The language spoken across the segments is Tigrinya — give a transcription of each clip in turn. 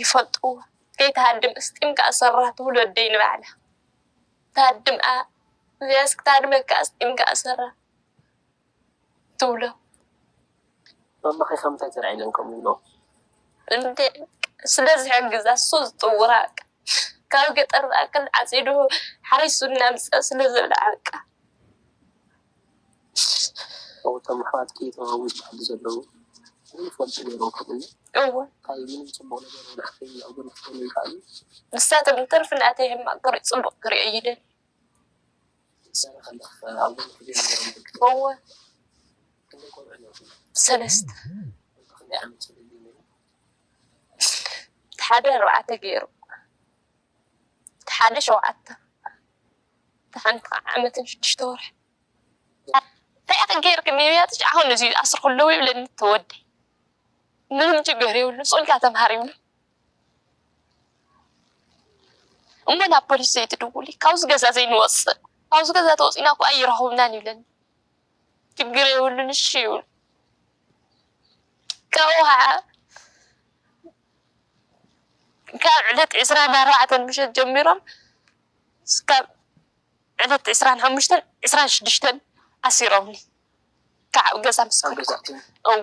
ይፈልጥዎ ከይትሃድም እስጢምካ ኣሰራ ትብሎ ኣደይ ንባዕላ ትሃድም እዚኣስ ክትሃድመካ እስጢምካ ኣሰራ ትብሎ። ማማኺ ከምታይ ተላዒለን ከምኡ ይብልኦ። እንዴ ስለ ዝሕግዛ እሱ ዝጥውራ በቃ ካብ ገጠር ዝኣክል ዓፂዱ ሓሪሱ እናምፀ ስለ ዝብልዓ በቃ። እው እቶም ኣሕዋትኪ እቶም ኣብ ውሽጢ ዓዲ ዘለዉ ዘይፈልጡ ነይሮም ክብልኒ እወ ታይ ምንም ፅቡቅ ነገር እውን ኣፍተይ ኣብ ጎኒ ክኮኑ ይክኣሉ። ንሳቶም እንትርፊ ናተይ ሕማቅ ክሪኡ ፅቡቅ ክሪኡ ኣይደልዩን። እወ ሰለስተ እቲ ሓደ ኣርባዕተ ገይሩ እቲ ሓደ ሸውዓተ እቲ ሓንቲ ከዓ ዓመትን ሽዱሽተ ወርሒ እንታይ ኢኺ ገይርኪ ንብያትሽ ኣሁን እዚ ዝኣስርክለዉ ይብለኒ እቲ ወደይ ምንም ችግር የብሉ ፅንካ ተምሃር ይብሉ እሞ ናብ ፖሊስ ዘይትድውሊ ካብዚ ገዛ ዘይንወፅእ ካብዚ ገዛ ተወፂእና እኮ ኣይረኽቡናን ይብለኒ ችግር የብሉን እሺ ይብሉ ካብኡ ከዓ ካብ ዕለት ዕስራን ኣርባዕተን ምሸት ጀሚሮም እስካብ ዕለት ዕስራን ሓሙሽተን ዕስራን ሽዱሽተን ኣሲሮምኒ ካብ ገዛ ምስ እዎ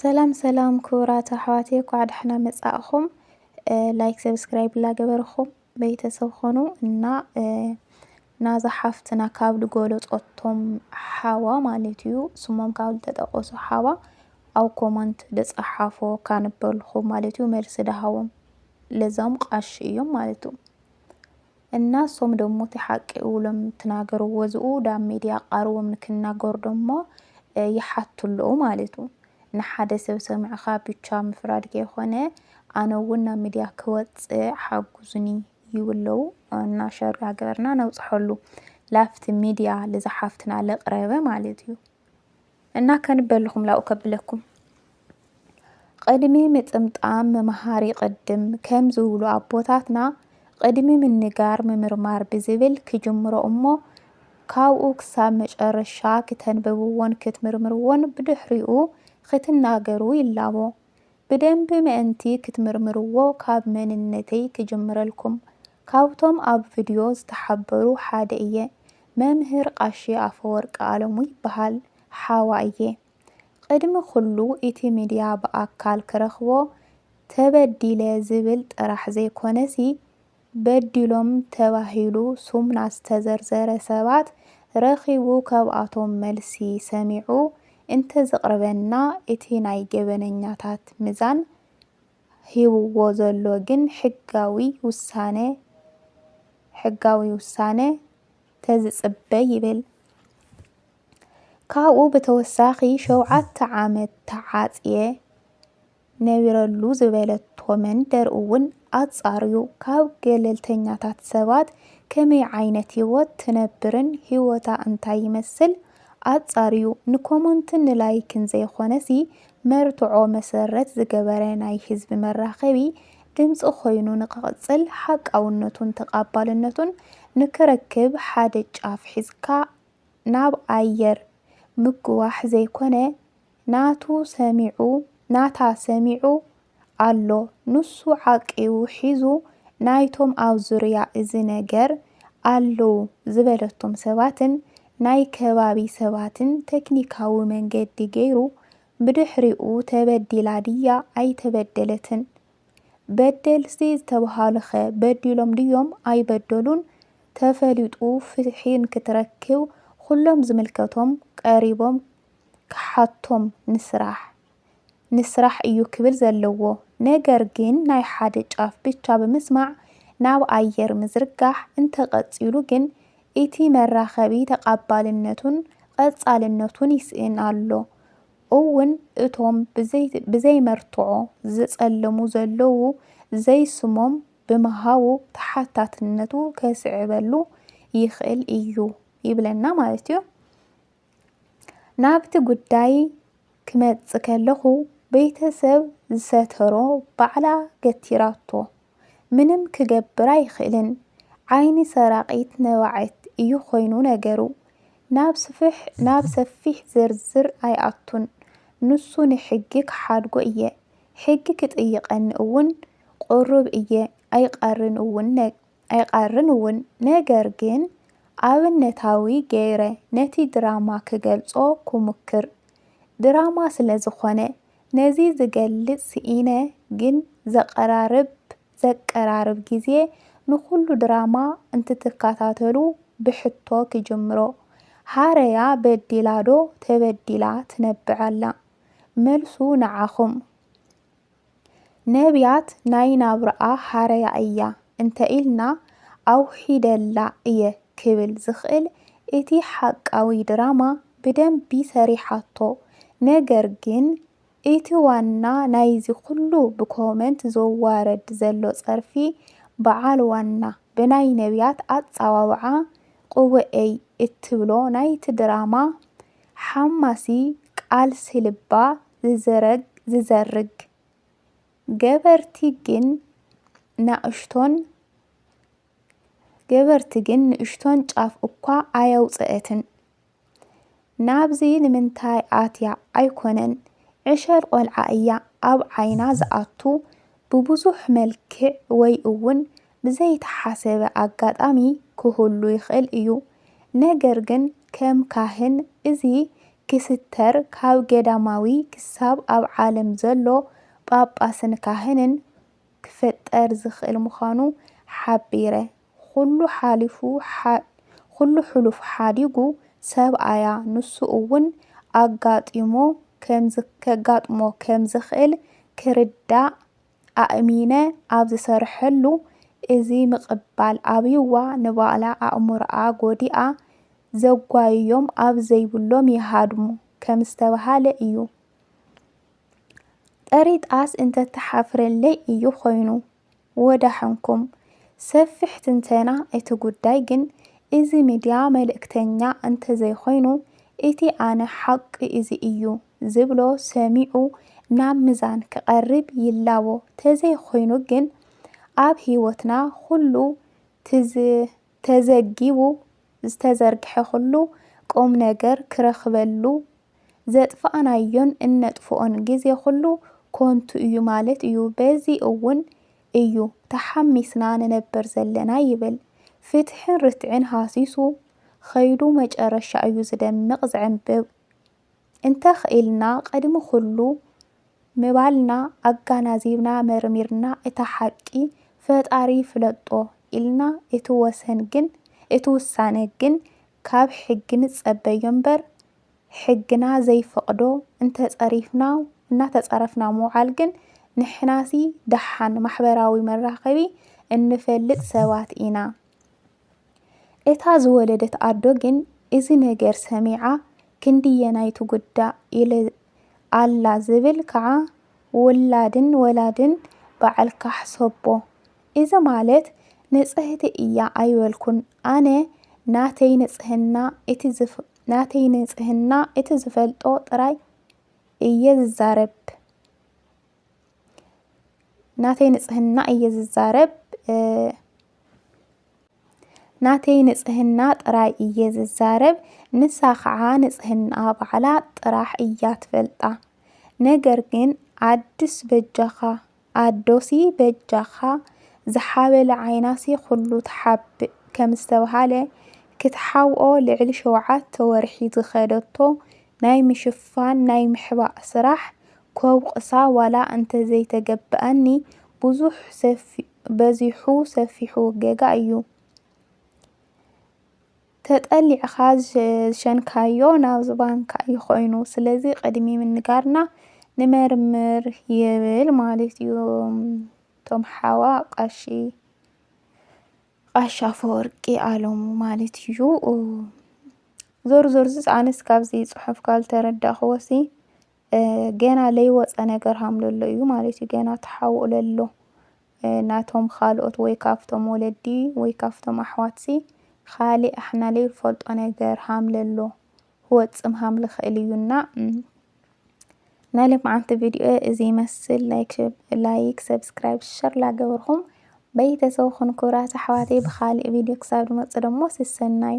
ሰላም ሰላም ክቡራት ኣሕዋቴ ኳዕ ዳሕና መጻእኹም። ላይክ ሰብስክራይብ ላገበርኹም ቤተሰብ ኾኑ እና ናዛ ሓፍትና ካብ ዝገለጾቶም ሓዋ ማለት እዩ ስሞም ካብ ዝተጠቀሱ ሓዋ ኣብ ኮመንት ዝጸሓፎ ካንበልኹም ማለት እዩ መልሲ ዳሃቦም ለዛም ቃሽ እዮም ማለት እዩ እና እሶም ደሞ እቲ ሓቂ እውሎም ትናገርዎ ዝኡ ዳብ ሜድያ ቃርቦም ንክናገሩ ደሞ ይሓቱ ኣለዉ ማለቱ ንሓደ ሰብ ሰምዕኻ ብቻ ምፍራድ ከይኾነ ኣነ እውን ናብ ምድያ ክወፅእ ሓጉዙኒ ይብለዉ እና ሸር ዳገበርና ነብፅሐሉ ላፍቲ ምድያ ልዛ ሓፍትና ልቅረበ ማለት እዩ። እና ከንበልኹም ላኡ ከብለኩም ቕድሚ ምጥምጣም መምሃር ይቕድም ከም ዝብሉ ኣቦታትና ቕድሚ ምንጋር ምምርማር ብዝብል ክጅምሮ እሞ ካብኡ ክሳብ መጨረሻ ክተንብብዎን ክትምርምርዎን ብድሕሪኡ ክትናገሩ ይላቦ። ብደንቢ ምእንቲ ክትምርምርዎ ካብ መንነተይ ክጅምረልኩም ካብቶም ኣብ ቭድዮ ዝተሓበሩ ሓደ እየ መምህር ቃሺ ኣፈወርቂ ኣለሙ ይበሃል ሓዋ እየ ቕድሚ ኹሉ ኢቲ ምድያ ብኣካል ክረኽቦ ተበዲለ ዝብል ጥራሕ ዘይኮነሲ በዲሎም ተባሂሉ ሱም ናዝተዘርዘረ ሰባት ረኺቡ ከብኣቶም መልሲ ሰሚዑ እንተዘቕርበና እቲ ናይ ገበነኛታት ምዛን ሂብዎ ዘሎ ግን ሕጋዊ ውሳነ ሕጋዊ ውሳነ ተዝጽበ ይብል። ካብኡ ብተወሳኺ ሸውዓተ ዓመት ተዓጽየ፣ ነቢረሉ ዝበለቶ መንደር እውን ኣፃርዩ ካብ ገለልተኛታት ሰባት ከመይ ዓይነት ህይወት ትነብርን ህይወታ እንታይ ይመስል ኣፃርዩ ንኮሞንትን ንላይክን ዘይኾነሲ መርትዖ መሰረት ዝገበረ ናይ ህዝቢ መራኸቢ ድምፂ ኮይኑ ንክቕፅል ሓቃውነቱን ተቓባልነቱን ንክረክብ ሓደ ጫፍ ሒዝካ ናብ ኣየር ምጉዋሕ ዘይኮነ ናቱ ሰሚዑ ናታ ሰሚዑ ኣሎ ኑሱ ዓቂቡ ሒዙ ናይቶም ኣብ ዙርያ እዚ ነገር ኣለው ዝበለቶም ሰባትን ናይ ከባቢ ሰባትን ተክኒካዊ መንገዲ ገይሩ ብድሕሪኡ ተበዲላ ድያ ኣይተበደለትን በደልቲ ዝተብሃሉኸ በዲሎም ድዮም ኣይበደሉን ተፈሊጡ ፍትሒ ንክትረክብ ኹሎም ዝምልከቶም ቀሪቦም ክሓቶም ንስራሕ ንስራሕ እዩ ክብል ዘለዎ ነገር ግን ናይ ሓደ ጫፍ ብቻ ብምስማዕ ናብ ኣየር ምዝርጋሕ እንተቀፂሉ ግን እቲ መራኸቢ ተቃባልነቱን ቐፃልነቱን ይስእን ኣሎ እውን እቶም ብዘይመርትዖ ዝፀለሙ ዘለዉ ዘይስሞም ብምሃቡ ተሓታትነቱ ከስዕበሉ ይኽእል እዩ ይብለና ማለት እዩ። ናብቲ ጉዳይ ክመጽእ ከለኹ ቤተሰብ ዝሰተሮ ባዕላ ገቲራቶ ምንም ክገብር ኣይኽእልን ዓይኒ ሰራቒት ነባዒት እዩ ኮይኑ ነገሩ ናብ ሰፊሕ ዝርዝር ኣይኣቱን ንሱ ንሕጊ ክሓድጎ እየ ሕጊ ክጥይቐኒ እውን ቑሩብ እየ ኣይቐርን እውን ኣይቐርን እውን ነገር ግን ኣብነታዊ ገይረ ነቲ ድራማ ክገልጾ ኩሙክር ድራማ ስለ ዝኾነ ነዚ ዝገልጽ ስኢነ ግን ዘቐራርብ ዘቀራርብ ግዜ ንኹሉ ድራማ እንትትከታተሉ ብሕቶ ክጅምሮ ሃረያ በዲላ ዶ ተበዲላ ትነብዕ ኣላ መልሱ ንዓኹም ነብያት ናይ ናብራኣ ሓረያ እያ እንተ ኢልና ኣውሒደላ እየ ክብል ዝኽእል እቲ ሓቃዊ ድራማ ብደንቢ ሰሪሓቶ ነገር ግን እቲ ዋና ናይዚ ኩሉ ብኮመንት ዝዋረድ ዘሎ ጸርፊ በዓል ዋና ብናይ ነብያት ኣጻዋውዓ ቁቡኤይ እትብሎ ናይቲ ድራማ ሓማሲ ቃልሲ ልባ ዝዘርግ፣ ገበርቲ ግን ናእሽቶን ገበርቲ ግን ንእሽቶን ጫፍ እኳ ኣየውጽኤትን። ናብዚ ንምንታይ ኣትያ ኣይኮነን ዕሸል ቆልዓ እያ ኣብ ዓይና ዝኣቱ ብብዙሕ መልክዕ ወይ እውን ብዘይተሓሰበ ኣጋጣሚ ክህሉ ይኽእል እዩ። ነገር ግን ከም ካህን እዚ ክስተር ካብ ገዳማዊ ክሳብ ኣብ ዓለም ዘሎ ጳጳስን ካህንን ክፈጠር ዝኽእል ምዃኑ ሓቢረ ኹሉ ሓሊፉ ኹሉ ሕሉፍ ሓዲጉ ሰብኣያ ንሱ እውን ኣጋጢሞ ከጋጥሞ ከም ዝኽእል ክርዳእ ኣእሚነ ኣብ ዝሰርሐሉ እዚ ምቕባል ኣብዩዋ ንባእላ ኣእምሮኣ ጎዲኣ ዘጓይዮም ኣብ ዘይብሎም ይሃድሙ ከም ዝተብሃለ እዩ። ጠሪጣስ እንተትሓፍረለይ እዩ ኮይኑ። ወዳሕንኩም። ሰፊሕ ትንተና እቲ ጉዳይ ግን እዚ ሚድያ መልእክተኛ እንተዘይኮይኑ እቲ ኣነ ሓቂ እዚ እዩ። ዝብሎ ሰሚዑ ናብ ምዛን ክቐርብ ይላቦ ተዘይኾይኑ ግን ኣብ ህይወትና ኹሉ ተዘጊቡ ዝተዘርግሐ ኹሉ ቁምነገር ክረኽበሉ ዘጥፋእናዮን እነጥፍኦን ግዜ ኹሉ ኮንቱ እዩ ማለት እዩ በዚ እውን እዩ ተሓሚስና ንነበር ዘለና ይብል ፍትሕን ርትዕን ሃሲሱ ኸይዱ መጨረሻ እዩ ዝደምቕ ዝዕንብብ እንተ ኽኢልና ቕድሚ ኹሉ ምባልና ኣጋናዚብና መርሚርና እታ ሓቂ ፈጣሪ ይፍለጦ ኢልና እቲ ወሰን ግን እቲ ውሳነ ግን ካብ ሕጊ ንጸበዮ እምበር ሕግና ዘይፈቕዶ እንተ ጸሪፍና እናተጻረፍና ምውዓል ግን ንሕናሲ ደሓን ማሕበራዊ መራኸቢ እንፈልጥ ሰባት ኢና እታ ዝወለደት ኣዶ ግን እዚ ነገር ሰሚዓ ክንድየናይ ትጉዳእ ኢለ ኣላ ዝብል ከዓ ውላድን ወላድን በዓል ካሕሰቦ እዚ ማለት ንፅህቲ እያ ኣይበልኩን ኣነ ናተይ ንፅህና እቲ ዝፈልጦ ጥራይ እየ ዝዛረብ። ናተይ ንጽህና እየ ዝዛረብ ናተይ ንጽህና ጥራይ እየ ዝዛረብ ንሳ ኸዓ ንጽህና ባዕላ ጥራሕ እያ ትፈልጣ ነገር ግን ኣድስ በጃኻ ኣዶሲ በጃኻ ዝሓበለ ዓይናሲ ኹሉ ትሓብእ ከም ዝተብሃለ ክትሓውኦ ልዕሊ ሸውዓተ ወርሒ ዝኸደቶ ናይ ምሽፋን ናይ ምሕባእ ስራሕ ከውቕሳ ዋላ እንተዘይተገበኣኒ ብዙሕ በዚሑ ሰፊሑ ገጋ እዩ ተጠሊዕኻ ዝሸንካዮ ናብ ዝባንካ እዩ ኮይኑ ስለዚ ቅድሚ ምንጋርና ንመርምር ይብል ማለት እዩ ቶም ሓዋ ቃሺ ቃሻ ፈወርቂ ኣለሙ ማለት እዩ ዞር ዞር ዝፃነስ ካብዚ ፅሑፍ ካልተረዳእኽዎሲ ገና ለይወፀ ነገር ሃምለሎ እዩ ማለት እዩ። ገና ተሓውኡ ለሎ ናቶም ኻልኦት ወይ ካብቶም ወለዲ ወይ ካብቶም ኣሕዋትሲ ኻሊእ ኣሕና ለይንፈልጦ ነገር ሃምለሎ ህወፅም ሃም ልኽእል እዩ እና ናይ ልምዓንቲ ቪድዮ እዚ ይመስል። ላይክ ላይክ ሰብስክራይብ ሸር ላገበርኩም በይተሰብኹን ክብራት ኣሕዋተይ ብኻሊእ ቪድዮ ክሳብ ድመፅ ደሞ ስሰናዩ